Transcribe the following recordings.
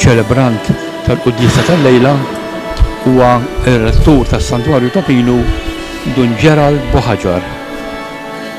Iċ-ċelebrant tal-quddiesa tal-lejla huwa r-Rettur tas-Santwarju ta' Pinu, Dun Gerald Bohaġar.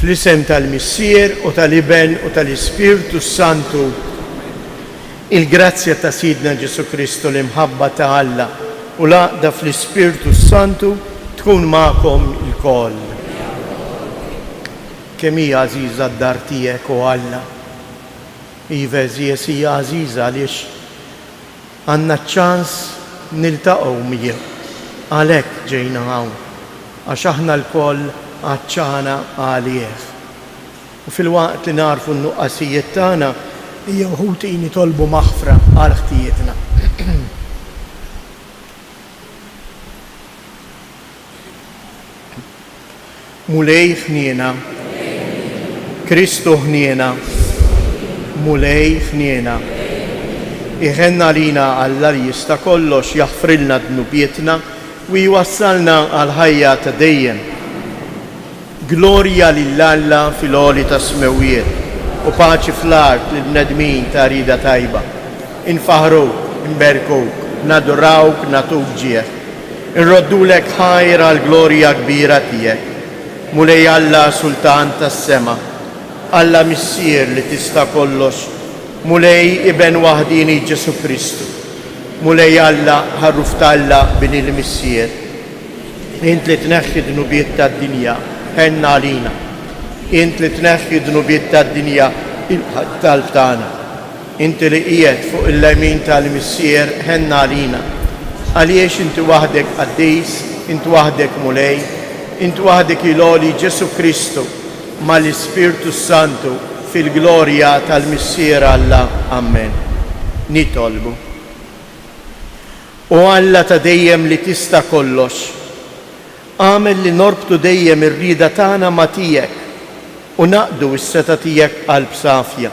Fl-isem tal-Missier u tal-Iben u tal-Ispirtu s-Santu, il-grazzja ta' Sidna Ġesù Kristu, l-imħabba ta' Alla u l-għaqda fl-Ispirtu s-Santu tkun magħkom ilkoll. Kemm hi għażiża d-dar tiegħek, o Alla! Iva, eżies, hija għażiża għaliex, Għandna ċ-ċans niltaqgħu miegħu. Għalhekk ġejna hawn, għax aħna lkoll għatxana għalih. U filwaqt li nagħrfu n-nuqqasijiet tagħna, ejja wħud hi nitolbu maħfra għal ħtijietna. Mulej ħniena, Kristu ħniena, Mulej ħniena. Iħenn għalina Alla li jista' kollox jaħfrilna dnubietna u jwassalna għall-ħajja ta' dejjem. Glorja lil Alla fil-għoli tas-smewwiet, u paċi fl-art lill-bnedmin ta' rieda tajba. Infaħħruk, inberkuk, nadurawk, nagħtuk ġieħ. Inroddulek ħajr għall-glorja kbira tiegħek, Mulej Alla Sultan tas-sema, Alla Missier li tista' kollox, Mulej Iben waħdieni Ġesù Kristu, Mulej Alla, Ħarruf t'Alla, Bini l-Missier. Int li tneħħi d-dnubiet tad-dinja, għenna għalina. Int li tneħħi d-dnubiet tad-dinja, ilqa' t-talb tagħna. Inti li qiegħed fuq il-lemin tal-Missier, għenna għalina. Għaliex Inti waħdek Qaddis, Int waħdek Mulej, Int waħdek il-Għoli Ġesù Kristu mal-Ispirtu s-Santu fil-glorja tal-Missier Alla. Ammen. Nitolbu. O Alla ta' dejjem li tista' kollox, agħmel li norbtu dejjem ir-rieda tagħna ma' tiegħek u ngħaqqdu s-setgħa tiegħek b'qalb safja.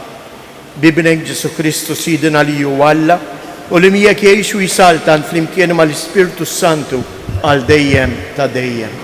B'Ibnek Ġesù Kristu Sidna li hu Alla u li miegħek jgħix u jsaltan flimkien mal-Ispirtu s-Santu għal dejjem ta' dejjem.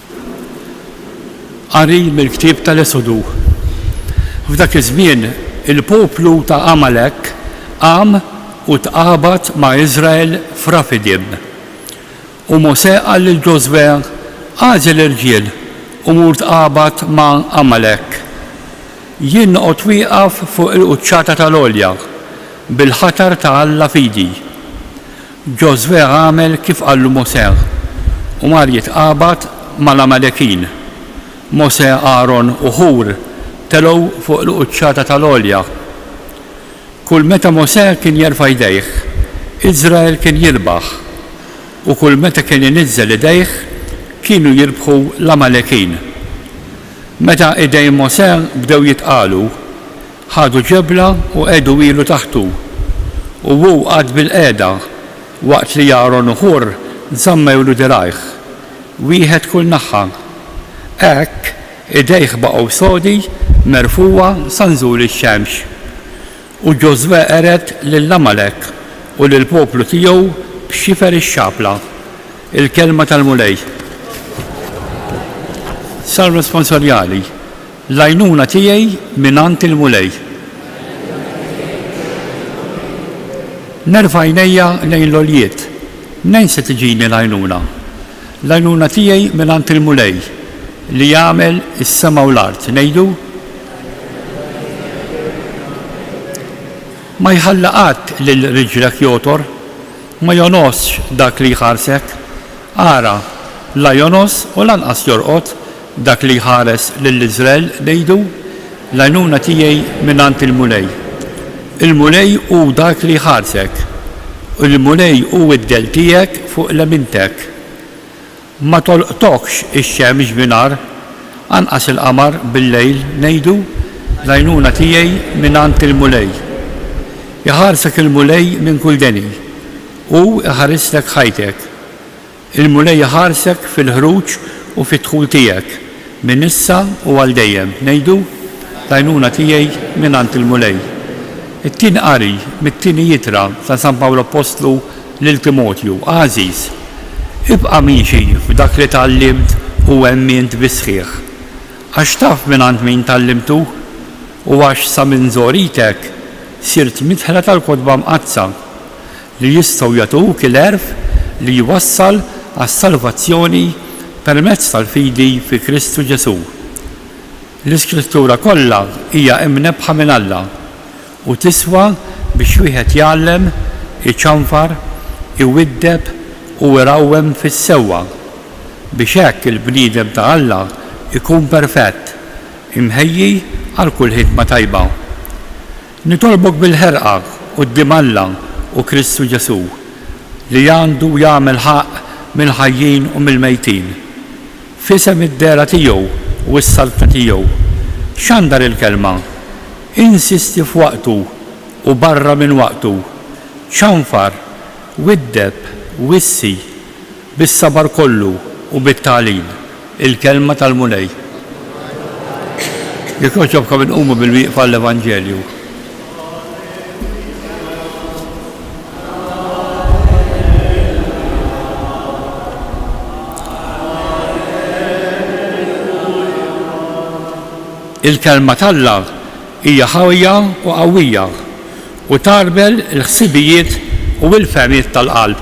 Qari mill-ktieb tal-Esodu F'dak iż-żmien, il-poplu ta' Għamalek qam u tqabad ma' Iżrael f'Rafidim. U Mosè qal lil Ġożwè, Agħżel irġiel u mur tqabad ma' Għamalek. Jien noqgħod wieqaf fuq il-quċċata tal-għolja, bil-ħatar ta' Alla f'idi. Ġożwè għamel kif qallu Mosè u mar jitqabad mal-Għamalekin. Mosè, Aron u Ħur telgħu fuq il-quċċata tal-għolja. Kull meta Mosè kien jerfa' jdejh, Iżrael kien jirbaħ, u kull meta kien iniżżel idejh, kienu jirbħu l-Għamalekin. Meta idejn Mosè bdew jitqalu, Ħadu ġebla u qegħdu ilu taħtu, u hu qagħad bilqiegħda, waqt li Aaron u Hur żammewlu dirgħajh, wieħed kull naħa. Hekk, idejh baqgħu sodi merfugħa sa nżul ix-xemx. U Ġożwè qered lil Għamalek u lill-poplu tiegħu b'xifer ix-xabla. Il-kelma tal-Mulej. Salm Responsorjali L-għajnuna tiegħi mingħand il-Mulej. Nerfa' għajnejja lejn l-għoljiet, mnejn se tiġini l-għajnuna? L-għajnuna tiegħi mingħand il-Mulej, li għamel is-sema u l-art. Ngħidu? Ma jħalli qatt lil riġlek jogħtor, ma jogħnosx dak li jħarsek. Ara, la jogħnos u lanqas jorqod, Dak li jħares lil Iżrael ngħidu, L-għajnuna tiegħi mingħand il-Mulej. Il-Mulej hu dak li jħarsek, u l-Mulej hu d-dell tiegħek fuq lemintek. Ma tolqtokx ix-xemx bi nhar, anqas il-qamar bil-lejl ngħidu, L-għajnuna tiegħi mingħand il-Mulej. Iħarsek il-Mulej minn kull deni, hu jħarislek ħajtek. Il-Mulej iħarsek fil-ħruġ u fid-dħul tiegħek, minn issa u għal dejjem. Ngħidu, L-għajnuna tiegħi mingħand il-Mulej. It-Tieni Qari mit-Tieni Ittra ta' San Pawl Appostlu lil Timotju, Għażiż, ibqa' miexi f'dak li tgħallimt u emmint bis-sħiħ. Għax taf mingħand min tgħallimtu, u għax sa minn żgħoritek sirt midħla tal-Kotba Mqaddsa. li jistgħu jagħtuk il-għerf li jwassal għas-salvazzjoni permezz tal-fidi fi Kristu Ġesù. L-Iskrittura kollha hija imnebbħa minn Alla u tiswa biex wieħed jgħallem, iċanfar, iwiddeb u irawwem fis-sewwa, biex hekk il-bniedem ta' Alla jkun perfett, imħejji għal kull ħidma tajba. Nitolbok bil-ħerqa quddiem Alla u Kristu Ġesù, li għandu jagħmel ħaqq mill-ħajjin u mill-mejtin, f'isem id-dehra tiegħu u s-saltna tiegħu, xandar il-Kelma, insisti f'waqtu u barra minn waqtu, ċanfar, widdeb, wissi, Bis-sabar kollu u bit-tagħlim, il-Kelma tal-Mulej. Jekk jogħġobkom inqumu bil-wieqfa għall-Evanġelju. Il-Kelma t'Alla hija ħajja u qawwija u tagħrbel il-ħsibijiet u l-fehmiet tal-qalb.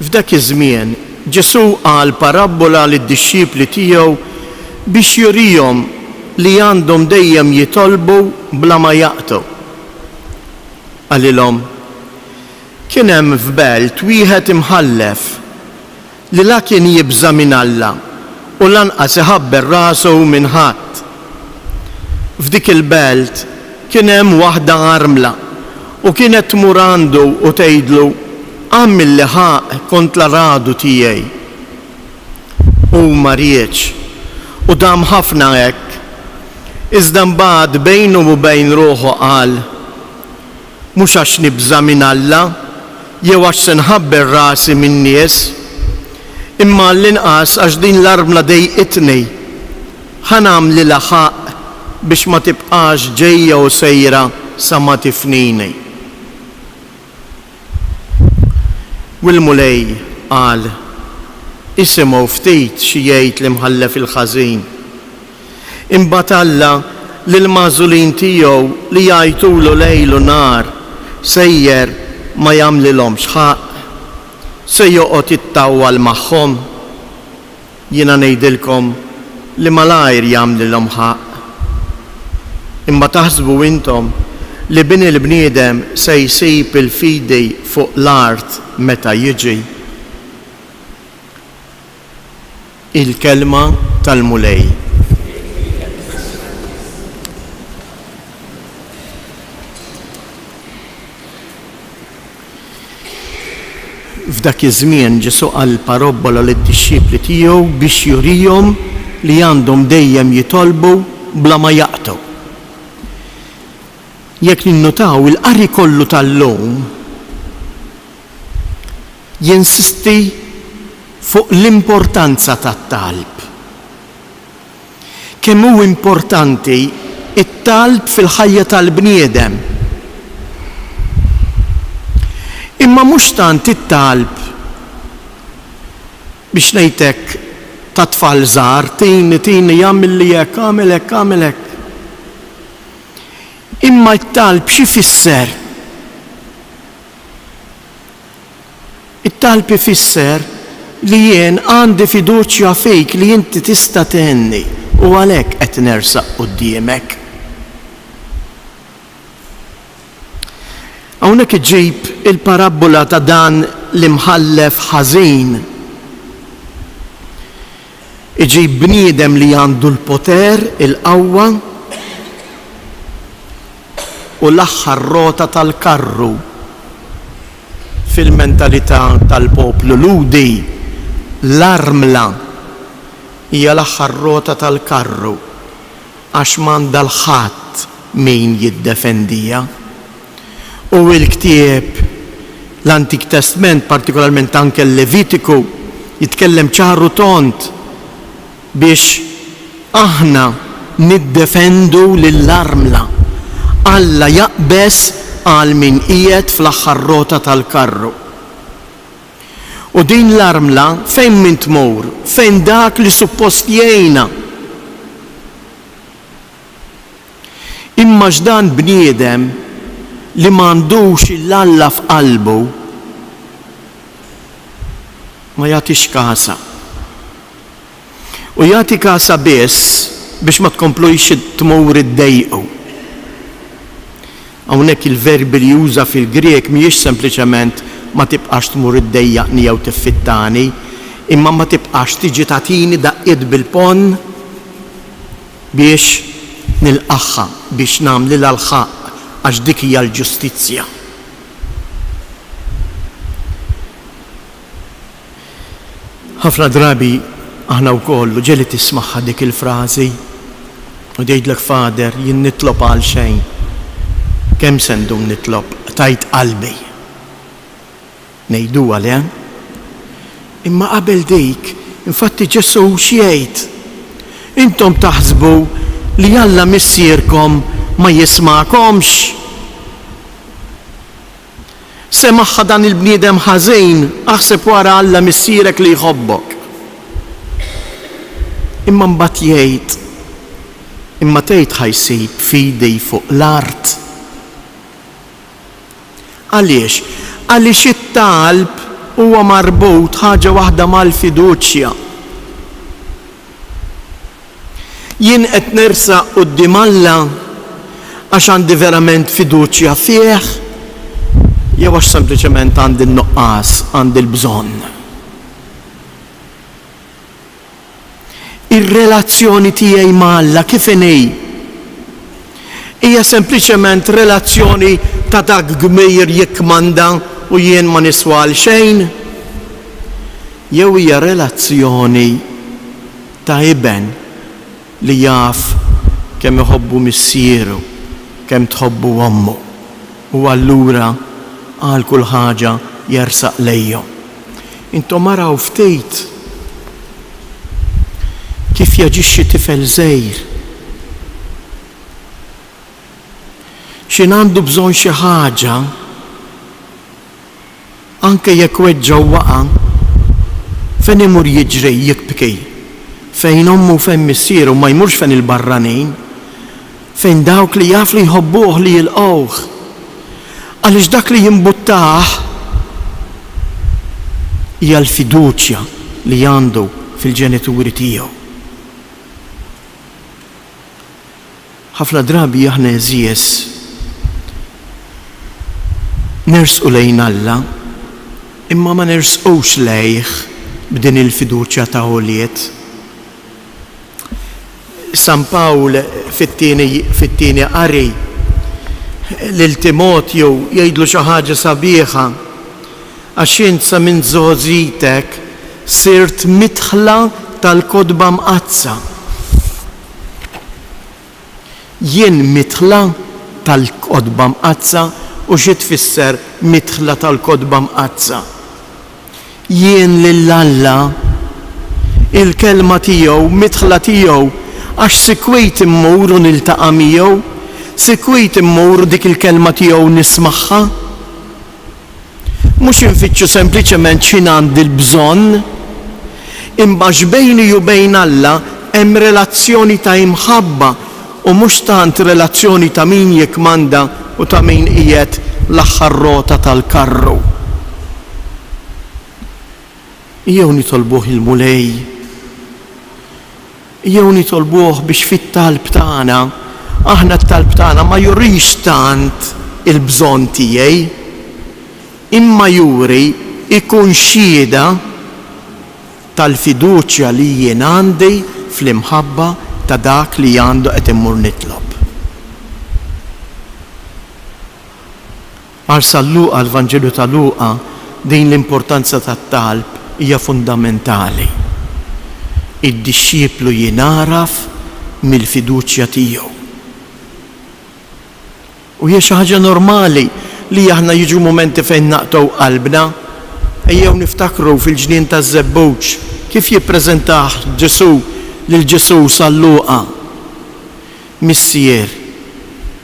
F'dak iż-żmien, Ġesù qal parabbola lid-dixxipli tiegħu biex jurihom li għandhom dejjem jitolbu bla ma jaqtgħu. Qalilhom, Kien hemm f'belt wieħed imħallef li la kien jibża' minn Alla u lanqas iħabber rasu minn ħadd. F'dik il-belt kien hemm waħda armla, u kienet tmur għandu u tgħidlu, Agħmilli ħaqq kont l-aradu tiegħi. Hu ma riedx, u dam ħafna hekk. Iżda mbagħad bejnu u bejn ruħu qal, mhux għax nibża' minn Alla jew għax se nħabber rasi min-nies, imma għall-inqas għax din l-armla dejqitni. Ħa nagħmlilha ħaqq biex ma tibqax ġejja u sejra sa ma tifnini. U l-Mulej qal, Isimgħu ftit xi jgħid l-imħallef il-ħażin. Imbagħad Alla lill-magħżulin tiegħu li jgħajtulu lejl u nhar sejjer ma jagħmlilhomx ħaqq? Se joqgħod jittawwal magħhom? Jiena ngħidilkom li malajr jagħmlilhom ħaqq. Imma taħsbu intom li Bini l-bniedem se jsib il-fidi fuq l-art meta jiġi? Il-Kelma tal-Mulej. F'dak iż-żmien Ġesù qal parobbola lid-dixxipli tiegħu biex jurihom li għandhom dejjem jitolbu bla ma jaqtgħu. Jekk ninnutaw, il-qari kollu tal-lum, jinsisti fuq l-importanza tat-talb. Kemm hu importanti t-talb fil-ħajja tal-bniedem. Imma mhux tant it-talb, biex ngħid hekk, ta' tfal żgħar, tini, tini, agħmilli hekk, agħmel hekk, agħmel hekk. Imma t-talb x'ifisser? It-talb ifisser li jien għandi fiduċja fik li inti tista' tgħinni u għalhekk qed nersaq quddiemek. Hawnhekk iġib il-parabbola ta' dan l-imħallef ħażin. Iġib bniedem li għandu l-poter, il-qawwa u l-aħħar rota tal-karru. Fil-mentalità tal-poplu Lhudi, l-armla hija l-aħħar rota tal-karru. għax m'għandha 'l ħadd min jiddefendiha. U l-ktieb, l-Antik Testment, partikolarment anke l-Levitiku, jitkellem ċar u tond biex aħna niddefendu lill-armla. Alla jaqbeż għal min qiegħed fl-aħħar rota tal-karru. U din l-armla fejn min tmur, fejn dak li suppost jgħinha? Imma x'dan bniedem li m'għandux 'l Alla f'qalbu ma jagħtix kasha. u jagħti kasa biss biex ma tkomplux tmur iddejqu. Hawnhekk il-verbi li juża fil-Grieg mhijiex sempliċement ma tibqax tmur iddejjaqni jew tiffittani, imma ma tibqax tiġi tagħtini daqqiet bil-ponn biex nilqagħha, biex nagħmlilha l-ħaqq, għax dik hija l-ġustizzja. Ħafna drabi aħna wkoll u ġieli tismagħha dik il-frażi u tgħidlek Father jien nitlob għal xejn. Kemm se ndum nitlob? Qtajt qalbi. Ngħiduha le? Imma qabel dik, infatti Ġesù x'jgħid? Intom taħsbu li Alla Missierkom ma jismagħkomx? Semagħha dan il-bniedem ħażin, aħseb wara Alla Missierek li jħobbok. Imma mbagħad jgħid, Imma tgħid ħa jsib fidi fuq l-art? Għaliex? Għaliex it-talb huwa marbut ħaġa waħda mal-fiduċja. Jien qed nersaq quddiem Alla għax għandi verament fiduċja fih jew għax sempliċement għandi n-nuqqas, għandi l-bżonn? Ir-relazzjoni tiegħi ma' Alla kif inhi? Hija sempliċement relazzjoni ta' dak kbir jikkmanda u jien ma niswa għal xejn? Jew hija relazzjoni ta' iben li jaf kemm iħobbu missieru, kemm tħobbu ommu, u allura għal kull ħaġa jersaq lejhom? Intom araw ftit kif jaġixxi tifel żgħir. X'in għandu bżonn xi ħaġa, anke jekk weġġa' u waqa', fejn imur jiġri jibki? Fejn ommu u fejn missieru, ma jmurx fejn il-barranin. fejn dawk li jaf li jħobbuh li jilqgħuh, għaliex dak li jimbuttah hija l-fiduċja li għandu fil-ġenituri tiegħu. Ħafna drabi aħna għeżież nersqu lejn Alla imma ma nersqux lejh b'din il-fiduċja ta' ulied. San Pawl fit-tieni fit-tieni qari lil Timotju jgħidlu xi ħaġa sabiħa, Għax int sa minn żgħożitek sirt midħla tal-Kotba Mqaddsa. Jien midħla tal-Kotba Mqaddsa u xi tfisser midħla tal-Kotba Mqaddsa? Jien lil Alla, il-Kelma tiegħu, midħla tiegħu, għax sikwit immur u niltaqa' miegħu, sikwit immur u dik il-Kelma tiegħu nismagħha. Mhux infittxu sempliċement xi ngħandi l-bżonn, imma x'bejni u bejn Alla hemm relazzjoni ta' imħabba u mhux tant relazzjoni ta' min jikkmanda u ta' min qiegħed l-aħħar rota tal-karru. Ejjew nitolbuh il-Mulej. Jew nitolbuh biex fit-talb tagħna, aħna t-talb tagħna ma jurix tant il-bżonn tiegħi, imma juri, ikun xhieda tal-fiduċja li jien għandi fl-imħabba ta' dak li għandu qed immur nitlob. Għal San Luqa, l-Vanġelu ta' Luqa, din l-importanza tat-talb hija fundamentali. Id-dixxiplu jingħaraf mill-fiduċja tiegħu. U hija xi ħaġa normali li aħna jiġu mumenti fejn naqtgħu qalbna. Ejjew niftakru fil-ġnien taż-żebbuġ kif jippreżentah Ġesù lil Ġesù San Luqa. Missier,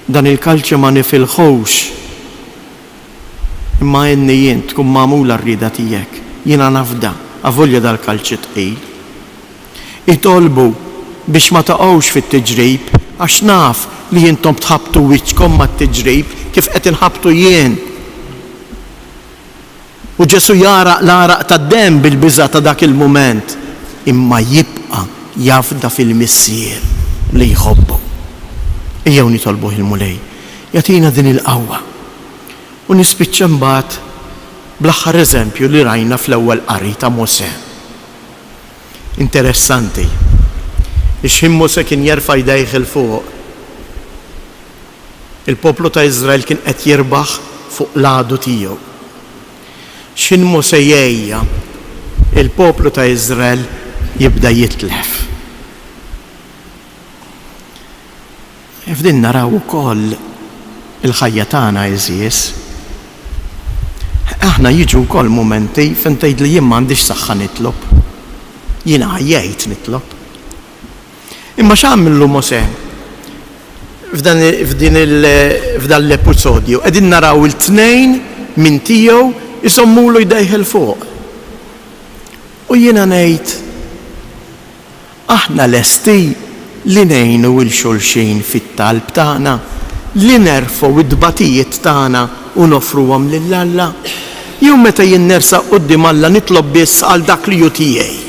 dan il-kalċe ma nifilħux, imma għinni jien tkun magħmula r-rieda tiegħek. Jiena nafda, avolja dal-kalċi tqil. Itolbu biex ma taqgħux fit-tiġrib, għax naf li intom tħabbtu wiċċkom mat-tiġrib kif qed inħabbtu jien. U Ġesù jagħraq l-għaraq tad-demm bil-biża' ta' dak il-mument, imma jibqa' jafda fil-Missier li jħobbu. Ejjew nitolbuh il-Mulej jagħtina din il-qawwa. U nispiċċa mbagħad bl-aħħar eżempju li rajna fl-ewwel qari ta' Mosè. Interessanti li xħin Mosè kien jerfa' jdejh 'il fuq. Il-poplu ta' Iżrael kien qed jirbaħ fuq l-għadu tiegħu. X'ħin Mosè jgħejja, il-poplu ta' Iżrael jibda jitlef. F'din naraw ukoll il-ħajja tagħna għeżież. Aħna jiġu wkoll mumenti fejn tgħidli jien m'għandix saħħa nitlob. Jiena għajjejt nitlob. Imma x'għamlu Mosè? F'dan f'din il f'dan l-episodju qegħdin naraw il-tnejn minn tiegħu jżommulu jdejh 'il fuq. U jiena ngħid, aħna lesti li ngħinu 'il xulxin fit-talb tagħna, li nerfgħu t-tbatijiet tagħna u noffruhom lil Alla? Jew meta jien nersaq quddiem Alla nitlob biss għal dak li hu tiegħi?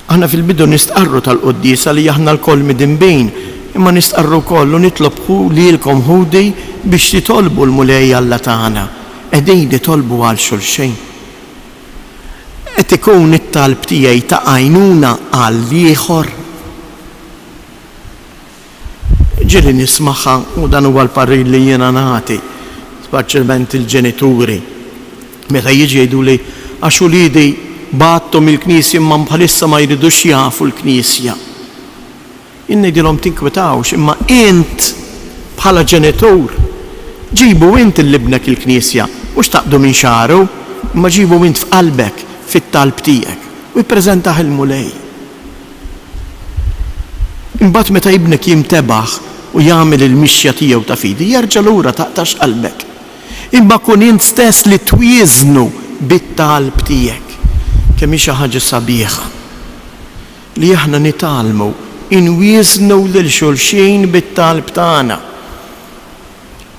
Aħna fil-bidu nistqarru tal-quddiesa li aħna lkoll midinbin, imma nistqarru wkoll u nitlobħu lilkom ħudi biex titolbu l-Mulej Alla tagħna. Qegħdin nitolbu għal xulxin. Qed ikun it-talb tiegħi ta' għajnuna għal l-ieħor? Ġieli nismagħha u dan huwa l-parir li jiena nagħti, spaċjalment il-ġenituri, meta jiġi jgħiduli, għax uliedi bgħatthom il-knisja imma bħalissa ma jridux jafu l-knisja. Jien ngħidilhom tinkwetawx imma int bħala ġenitur ġibu int lil ibnek il-knisja, mhux taqdu minn xagħru, imma ġibu int f'qalbek, fit-talb tiegħek u ippreżentah il-Mulej. Imbagħad meta ibnek jintebaħ u jagħmel il-mixja tiegħu ta' fidi, jerġa' lura taqtax qalbek. Imma kun int stess li twieżnu bit-talb tiegħek. Kemm hi xi ħaġa sabiħa li aħna nitgħallmu inwieżnu lil xulxin bit-talb tagħna!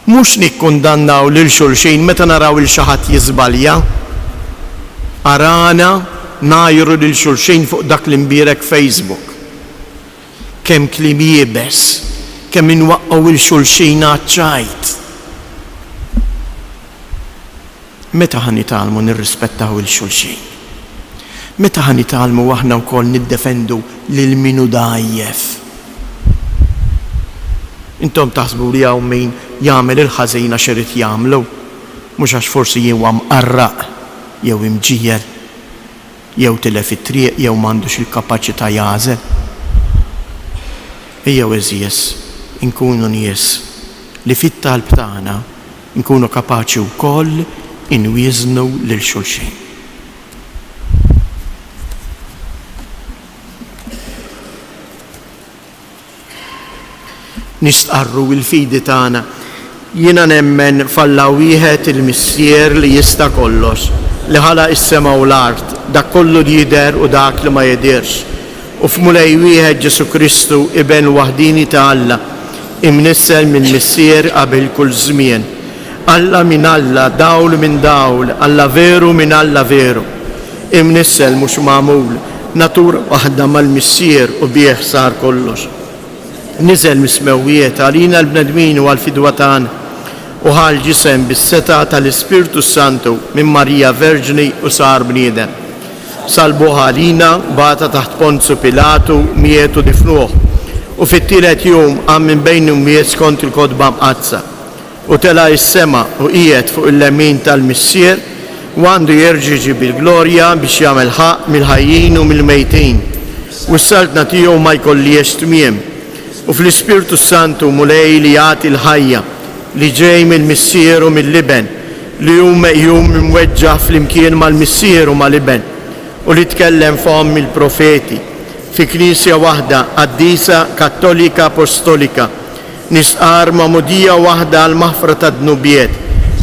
Mhux nikkundannaw lil xulxin meta naraw 'il xi ħadd jiżbalja. Arana ngħajru lil xulxin fuq dak l-imbierek Facebook. Kemm kliem iebes, kemm inwaqqgħu 'il xulxin għaċ-ċajt. Meta ħa nitgħallmu nirrispettaw 'il xulxin? Meta ħa nitgħallmu aħna wkoll niddefendu lil min hu dgħajjef? Intom taħsbu li hawn min jagħmel il-ħażin għax irid jagħmlu, mhux għax forsi huwa mqarraq jew imġiegħel, jew tilef it-triq jew m'għandux il-kapaċità jagħżel? Ejjew għeżież inkunu nies li fit-talb tagħna, Inkunu kapaċi wkoll inwieżnu lil xulxin. Nistqarru l-fidi tagħna, Jiena nemmen f'Alla wieħed il-Missier li jista' kollox, li ħalaq is-sema u l-art, dak kollu li jidher u dak li ma jidhirx. u f'Mulej wieħed Ġesù Kristu, Iben waħdieni ta' Alla, imnissel mill-Missier qabel kull żmien. Alla minn Alla, dawl minn dawl, Alla veru minn Alla veru. Imnissel, mhux magħmul, natura waħda mal-Missier u bih sar kollox. Niżel mis-smewwiet għalina l-bnedmin u għall-fidwa tagħna, u ħa l-ġisem bis-setgħa tal-Ispirtu s-Santu minn Marija Verġni u sar bniedem. Salbuh għalina, bagħatha taħt Ponzu Pilatu, miet u difnuh, u fit-tielet jum qam minn bejn l-imwiet skont il-Kotba Mqaddsa, u tela' is-sema u qiegħed fuq il-lemin tal-Missier, u għandu jerġa' jiġi bil-glorja biex jagħmel ħaqq mill-ħajjin u mill-mejtin, u s-Saltna tiegħu ma jkollhiex tmiem. U fl-Ispirtu s-Santu, Mulej li jagħti l-ħajja, li ġej mill-Missier u mill-Iben, li hu meqjum imweġġa' flimkien mal-Missier u mal-Iben, u li tkellem fomm il-profeti, fi Knisja waħda qaddisa Kattolika Apostolika, nistqarr magħmudija waħda għall-maħfra tad-dnubiet,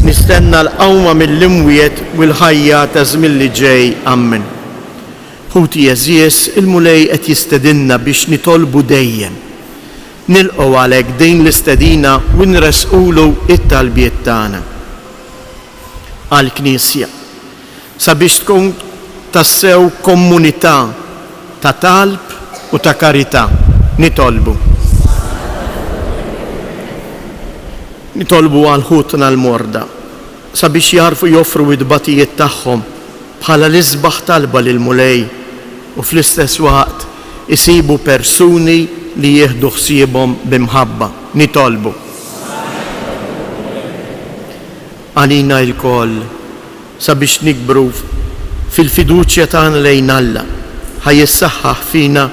nistenna l-qawma mill-imwiet u l-ħajja taż-żmien li ġej. Ammen. Ħuti għeżież, il-Mulej qed jistedinna biex nitolbu dejjem. Nilqgħu għalhekk din l-istedina u nressqulu t-talbiet tagħna għall-Knisja sabiex tkun tassew komunità ta' talb u ta' karità. Nitolbu. Nitolbu għal ħutna l-morda. sabiex jagħrfu joffru it-tbatijiet tagħhom bħala l-isbaħ talba lill-Mulej u fl-istess waqt isibu persuni li jieħdu ħsiebhom bi mħabba. Nitolbu għalina lkoll sabiex nikbru fil-fiduċja tagħna lejn Alla. Ħa jissaħħaħ fina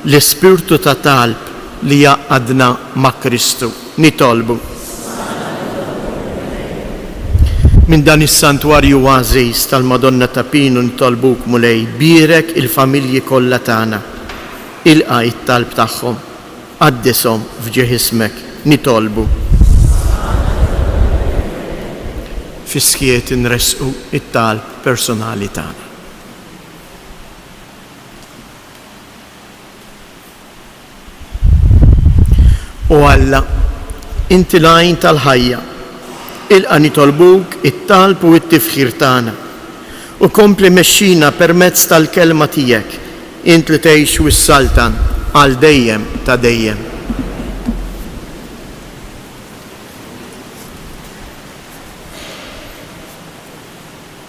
l-ispirtu ta' talb li jgħaqqadna ma' Kristu. Nitolbu minn dan is-Santwarju għażiż tal-Madonna ta' Pinu nitolbuk, Mulej, bierek il-familji kollha tagħna. Ilqa' t-talb tagħhom. Qaddishom f'ġieħ ismek. Nitolbu. Fis-skiet inressqu t-talb personali tagħna. O Alla, inti l-għajn tal-ħajja, ilqa' nitolbuk it-talb u t-tifħir tagħna, u kompli mexxina permezz tal-Kelma tiegħek, int li tgħix u ssaltan għal dejjem ta' dejjem.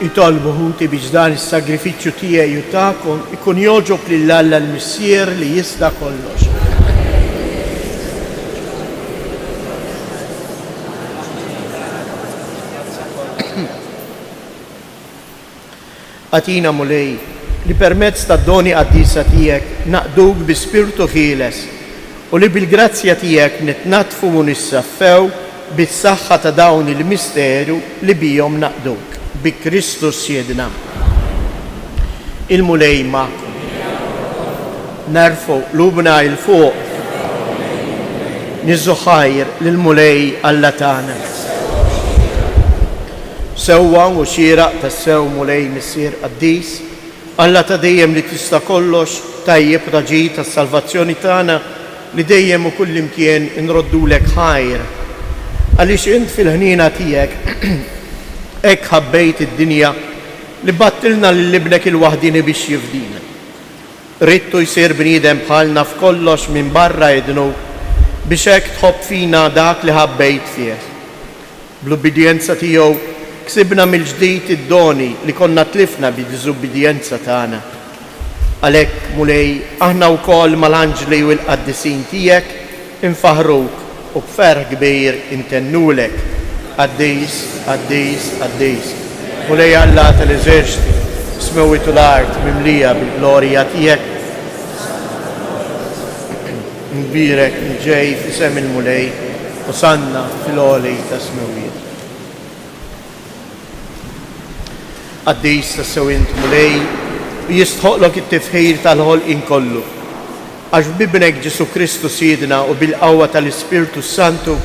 Itolbu ħuti biex dan is-sagrifiċċju tiegħi u tagħkom ikun jogħġob lil Alla l-Missier li jista' kollox. Agħtina, Mulej, li permezz tad-doni qaddisa tiegħek naqduk bi spirtu ħieles U li bil-grazzja tiegħek nitnaddfu u nissaffew bis-saħħa ta' dawn il-misteru li bihom naqduk, bi Kristu Sjiedna. Il-Mulej magħkom. Nerfgħu qlubna 'il fuq. Nieżżu ħajr lill-Mulej Alla tagħna. Sewwa u xieraq tassew Mulej Missier Qaddis, Alla ta' dejjem li tista' kollox, tajjeb Raġi tas-salvazzjoni tagħna, li dejjem u kullimkien inroddulek ħajr. Għaliex int fil-ħniena tiegħek hekk ħabbejt id-dinja li bgħattilna lil Ibnek il-waħdieni biex jifdina. Ridtu jsir bniedem bħalna f'kollox minbarra id-dnub biex hekk tħobb fina dak li ħabbejt fih. Bl-ubbidjenza tiegħu, ksibna mill-ġdid id-doni li konna tlifna bid-diżubbidjenza tagħna. Għalhekk, Mulej, aħna wkoll mal-anġli u l-qaddisin tiegħek infaħħruk u b'ferħ kbir intennulek, Qaddis, qaddis, qaddis, Mulej Alla tal-eżerċti, is-smewwiet u l-art mimlija bil-glorja tiegħek. Mubierek li ġej f'isem il-Mulej, Osanna fil-għoli tas-smewwiet. Qaddis tassew int, Mulej, u jistħoqqlok it-tifħir tal-ħolqien kollu, għax b'Ibnek Ġesù Kristu Sidna u bil-qawwa tal-Ispirtu s-Santu,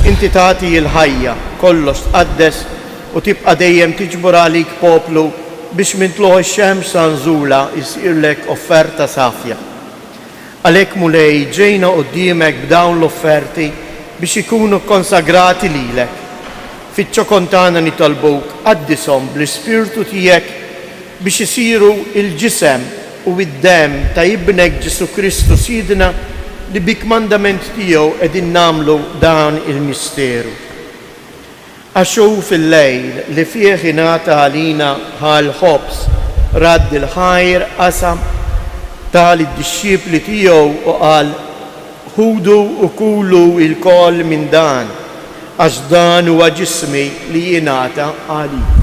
inti tagħti il-ħajja, kollox tqaddes u tibqa' dejjem tiġbor għalik poplu biex minn tluħ ix-xemx sa nżulha jsirlek offerta safja. Għalhekk, Mulej, ġejna quddiemek b'dawn l-offerti biex ikunu kkonsagrati lilek. Fiċ-ċokon tagħna nitolbuk qaddishom bl-Ispirtu tiegħek biex isiru l-ġisem u d-demm ta' Ibnek Ġesù Kristu Sidna li bi kmandament tiegħu qegħdin nagħmlu dan il-misteru. Għax hu fil-lejl li fih ingħata għalina bħal ħobż radd il-ħajr qasam, ta lid-dixxipli tiegħu u qal, Ħudu u kulu ilkoll minn dan, għax dan huwa ġismi li jingħata għalikom.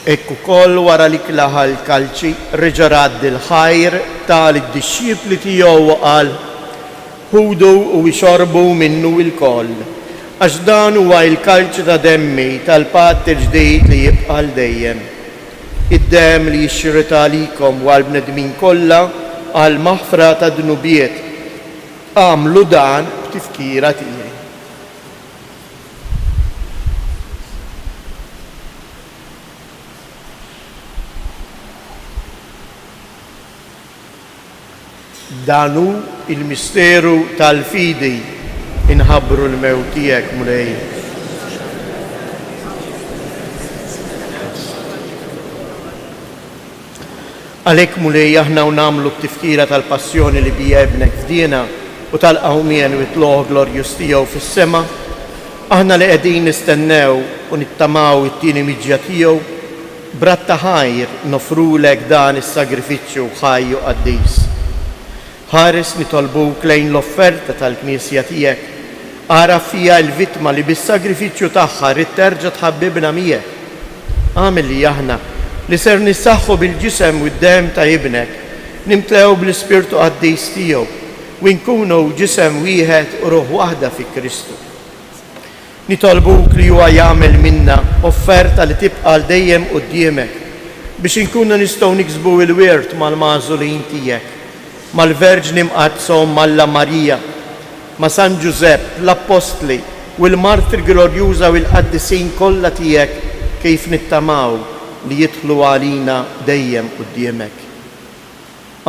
Hekk ukoll wara li klaha l-kalċi, reġa' radd il-ħajr, tah lid-dixxipli tiegħu u qal, Ħudu u ixorbu minnu lkoll, għax dan huwa l-kalċi ta' demmi tal-patt il-ġdid li jibqa' għal dejjem. Id-demm li jixxirret għalikom u għall-bnedmin kollha għall-maħfra tad-dnubiet. Agħmlu dan b'tifkira tiegħi. Dan hu l-misteru tal-fidi, inħabbru l-mewt tiegħek, Mulej. Għalhekk, Mulej, aħna hawn nagħmlu t-tifkira tal-passjoni li biha Ibnek fdiena u tal-qawmien u t-tlugħ glorjuż tiegħu fis-sema. Aħna li qegħdin nistennew u nittamaw it-tieni miġja tiegħu, b'radd ta' ħajr noffrulek dan is-sagrifiċċju ħaj u qaddis. Ħares nitolbuk lejn l-offerta tal-Knisja tiegħek. Agħraf fija l-vittma li bis-sagrifiċċju tagħha ridt terġa' tħabbibna miegħek. Agħmel li aħna, li ser nissaħħu bil-Ġisem u d-Demm ta' Ibnek, nimtlew bl-Ispirtu Qaddis tiegħu u nkunu ġisem wieħed u ruħ waħda fi Kristu. Nitolbuk li huwa jagħmel minna offerta li tibqa' għal dejjem quddiemek, biex inkunu nistgħu niksbu l-wirt mal-magħżulin tiegħek, mal-Verġni Mqaddsa Omm Alla Marija, ma' San Ġużepp, l-Appostli, u l-martri glorjuża u l-qaddisin kollha tiegħek kif nittamaw li jidħlu għalina dejjem quddiemek.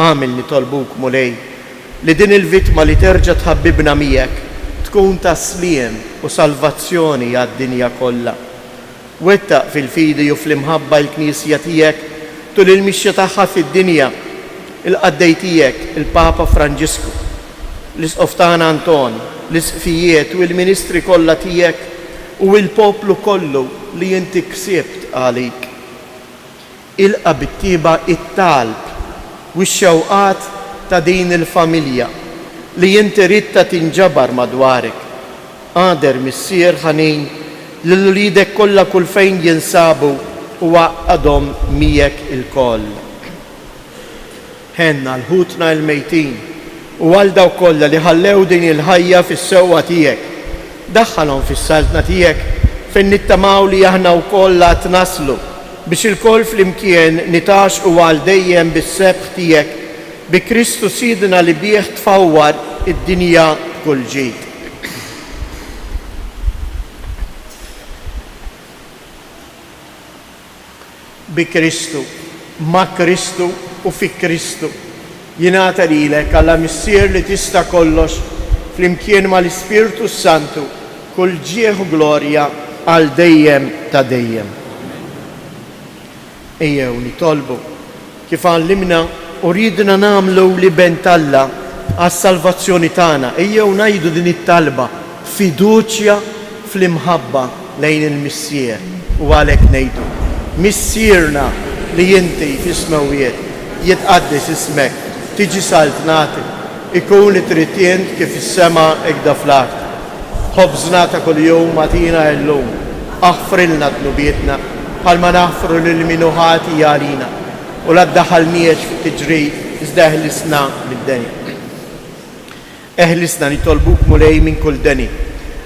Agħmel nitolbuk, Mulej, li din il-vittma li terġa' tħabbibna miegħek tkun ta' sliem u salvazzjoni għad-dinja kollha. Wettaq fil-fidi u fl-imħabba l-Knisja tiegħek tul il-mixja tagħha fid-dinja, il-qaddej tiegħek, il-Papa Franġisku, l-Isqof tagħna Anton, l-Isqfijiet u l-ministri kollha tiegħek u l-poplu kollu li inti ksibt għalik. Ilqa' bit-tjieba t-talb u x-xewqat ta' din il-familja li inti ridtha tinġabar madwarek. Agħder missier ħanin lil uliedek kollha kulfejn jinsabu u għaqqadhom miegħek ilkoll. Ħenn għal ħutna il-mejtin u għal dawk kollha li ħallew din il-ħajja fis-sewwa tiegħek. Daħħalhom fis-Saltna tiegħek fejn nittamaw li aħna wkoll għad naslu biex ilkoll flimkien nitgħaxxqu għal dejjem bis-sebħ tiegħek bi Kristu Sidna li bih tfawwar id-dinja b'kull ġid. Bi Kristu, ma' Kristu u fi Kristu, jingħata lilek, Alla Missier li tista' kollox, flimkien mal-Ispirtu s-Santu, kull ġieħ u glorja għal dejjem ta' dejjem. Ejjew nitolbu. kif għallimna u riedna nagħmlu l-Iben t'Alla għas-salvazzjoni tagħna, ejjew ngħidu din it-talba b'fiduċja fl-imħabba lejn il-Missier u għalhekk ngħidu, Missierna li inti fis-Smewwiet, jitqaddes ismek, tiġi saltnatik, Ikun li trid int kif fis-sema hekk da fl-art. Ħobżna ta' kuljum agħtina illum. Aħfrilna dnubietna, bħalma naħfru lil min hu ħati għalina. U la ddaħħalniex fi tiġrid, iżda eħlisna mid-deni. Eħlisna nitolbuk, Mulej, minn kull deni.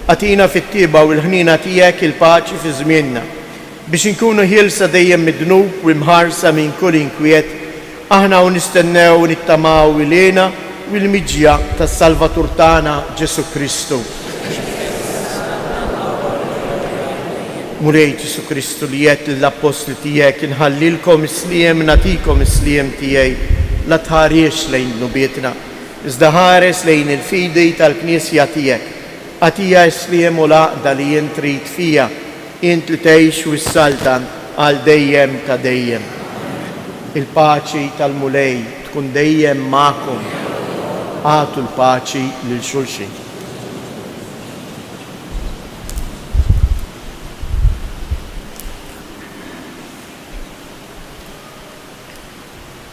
Agħtina fit-tjieba u l-ħniena tiegħek il-paċi fi żmienna. Biex inkunu ħielsa dejjem mid-dnub u mħarsa minn kull inkwiet, aħna hawn nistennew u nittamaw il-hena u l-miġja tas-Salvatur tagħna Ġesù Kristu. Mulej Ġesù Kristu li għedt lill-Appostli tiegħek, inħallilkom is-sliem, nagħtikom is-sliem tiegħi, la tħarisx lejn dnubietna, iżda ħares lejn il-fidi tal-Knisja tiegħek. Agħtiha s-sliem u l-għaqda li int trid fiha. Int li tgħix u ssaltan għal dejjem ta' dejjem. Il-paċi tal-Mulej tkun dejjem magħkom. Agħtu l-paċi lil xulxin.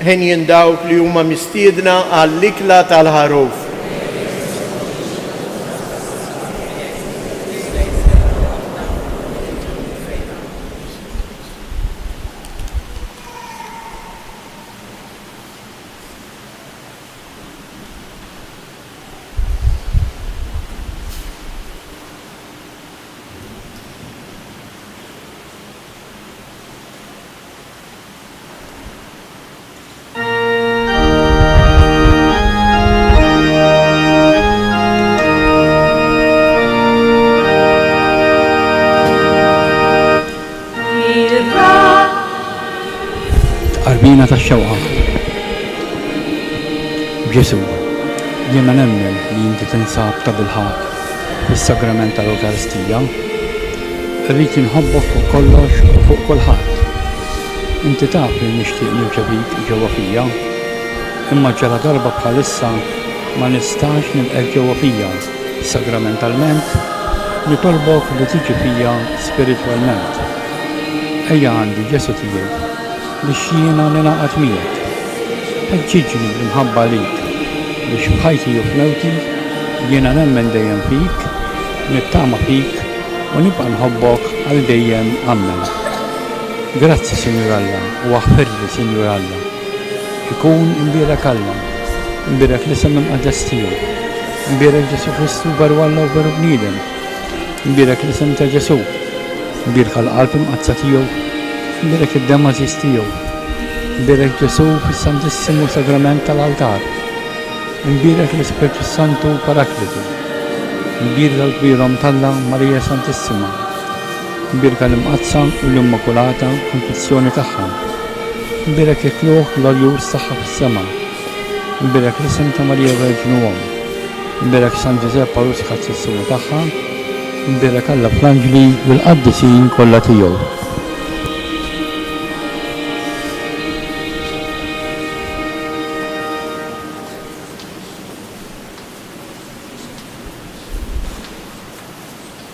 Henjin dawk li huma mistiedna għall-ikla tal-Ħaruf. Tqarbina tax-xewqa. Ġesù, jiena nemmen li inti tinsab tabilħaqq fis-Sagrament tal-Ewkaristija, irrid inħobbok fuq kollox u fuq kulħadd. Inti taf li nixtieq nirċevik ġewwa fija, imma ġaladarba bħalissa ma nistax nilqgħek ġewwa fija sagramentalment, nitolbok li tiġi fija spiritwalment. Ejja għandi, Ġesù tiegħi. Biex jiena ningħaqad miegħek. Ħeġġiġni l-imħabba għalik, biex f'ħajti u f'mewti, jiena nemmen dejjem fik, nittama fik u nibqa' nħobbok għal dejjem Ammen. Grazzi Sinjur Alla u aħfirli Sinjur Alla. Ikun imbierek Alla, imbierek l-isem imqaddes tiegħu, imbierek Ġesù Kristu veru Alla u veru bniedem. Nbierek l-isem ta' Ġesù. Nbierka l-qalb imqaddsa tiegħu. Nbierek id-demm għażiż tiegħu. Nbierek Ġesù fis-Santissimu Sagrament tal-altar. Nbierek l-Ispirtu s-Santu Paraklitu. Nbierka l-kbirhom t'Alla Marija Santissima. Nbierka l-Imqaddsa u l-Immakulata Konfizzjoni tagħha. Nbierek il-kluħ glorjuż tagħha fis-sema. Imbirak l-isem ta' Marija Verġnu Omm. Imbirak San Ġużepp Għarus Ħadd-Sissuna tagħha. Imbirak Alla fl-anġli u l-qaddisin kollha tiegħu.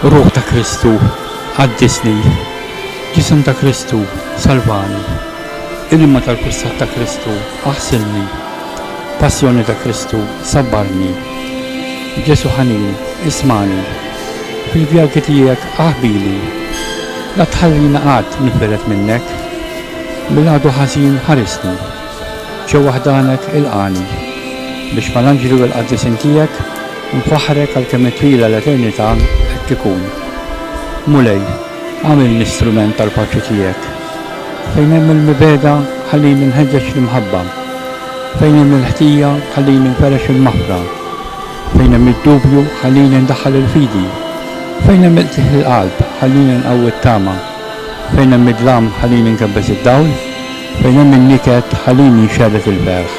Ruħ ta' Kristu, qaddisni. Ġisem ta' Kristu, salvani. Ilma tal-kustat ta' Kristu, aħsilni. Passjoni ta' Kristu, sabbarni. Ġesu' ħanin, ismagħni. Fil-vjalti tiegħek aħbini. La tħallina qatt ninfired minnek. Mill-għadu ħażin ħarisni. Ġewwa ħdanek ilqagħni. Biex mal-anġli u l-qaddisin tiegħek nfaħħrek għalkemm it-twila l-eternità qed tikun. Mulej, agħmilni strument tal-paċi tiegħek. Fejn hemm il-mibegħda ħallini nħeġġeġ l-imħabba. Fejn hemm il-ħtija ħallini nferrex il-maħfra. Fejn hemm id-dubju ħallini ndaħħal il-fidi. Fejn hemm il-qiegħ il-qalb ħallini nqawwi t-tama. Fejn hemm id-dlam ħalini nkebbes id-dawl, fejn hemm in-niket ħalini nxerred il-ferħ.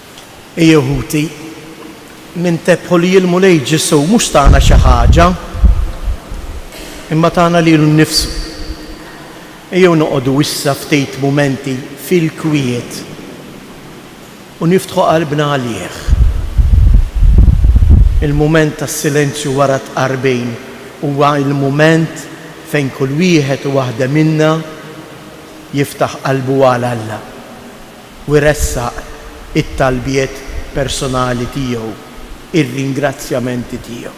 Ejjew ħuti, nintebħu li l-Mulej Ġesù mhux tana xi ħaġa, imma tana lilu nnifsu. Ejjew noqogħdu issa ftit mumenti fil-kwiet u niftħu qalbna għalih. Il-mument tas-silenzju wara t-tqarbin huwa l-mument fejn kull wieħed u waħda minna jiftaħ qalbu għal Alla. u jressaq it-talbiet personali tiegħu, ir-ringrazzjamenti tiegħu.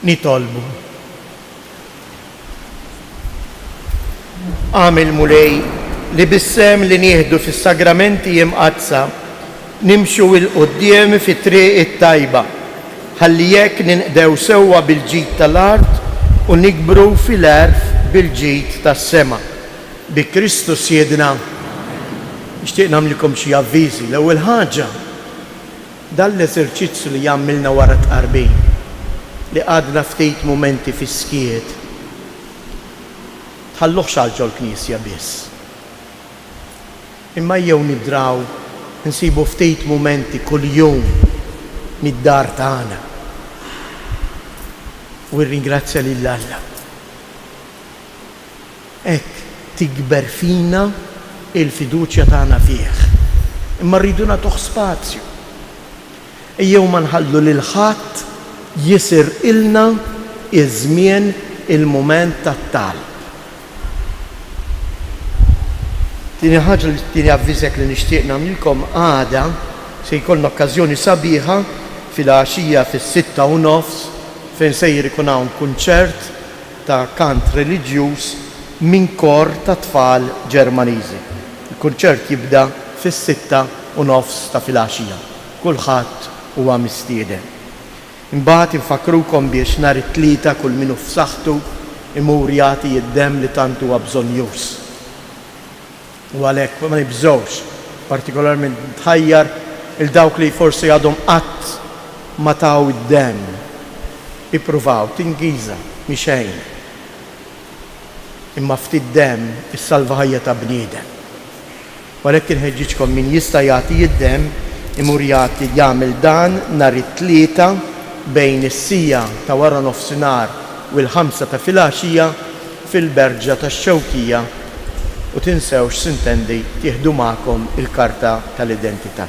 Nitolbu. Għamil Mulej li bissem li nieħdu fis-sagramenti imqadsa Nimxu 'l quddiem fit-triq it-tajba, ħalli hekk ninqdew sewwa bil-ġid tal-art u nikbru fil-għerf bil-ġid tas-sema. Bi Kristu Sidna. Nixtieq nagħmlilkom xi avviżi. L-ewwel ħaġa, dan l-eżerċizzju li għamilna wara t-tqarbin, li qgħadna ftit mumenti fis-skiet, tħalluhx għal ġol-knisja biss. Imma ejjew nidraw insibu ftit mumenti kuljum mid-dar tagħna u rringrazzja lil Alla. Hekk tikber fina l-fiduċja tagħna fih. Imma rridu nagħtuh spazju. Ejjew ma nħallu lil ħadd jisirqilna ż-żmien, il-mument tat-talb. Tieni ħaġa, tieni avviżek li nixtieq nagħmlilkom, għada se jkollna okkażjoni sabiħa filgħaxija fis-sitta u nofs fejn sejjer ikun hawn kunċert ta' kant reliġjuż minn kor ta' tfal Ġermaniżi. Il-kunċert jibda fis-sitta u nofs ta' filgħaxija. Kulħadd huwa mistieden. Imbagħad infakkrukom biex nhar it-Tlieta kull min hu f'saħħtu jmur jagħti id-demm li tant huwa bżonjuż. U għalhekk ma nibżgħux, partikolarment nħajjar 'il dawk li forsi għadhom qatt ma taw id-demm. Ippruvaw, t'Ingiża, mhi xejn. Imma ftit demm issalva ħajja ta' bniedem. U għalhekk inħeġġiġkom min jista' jagħti id-demm imur jagħti jagħmel dan nhar it-Tlieta bejn is-siegħa ta' waranofsinhar u l-ħamsa ta' filgħaxija fil-Berġa tax-Xewkija u tinsewx sintendi tieħdu magħkom il-karta tal-identità.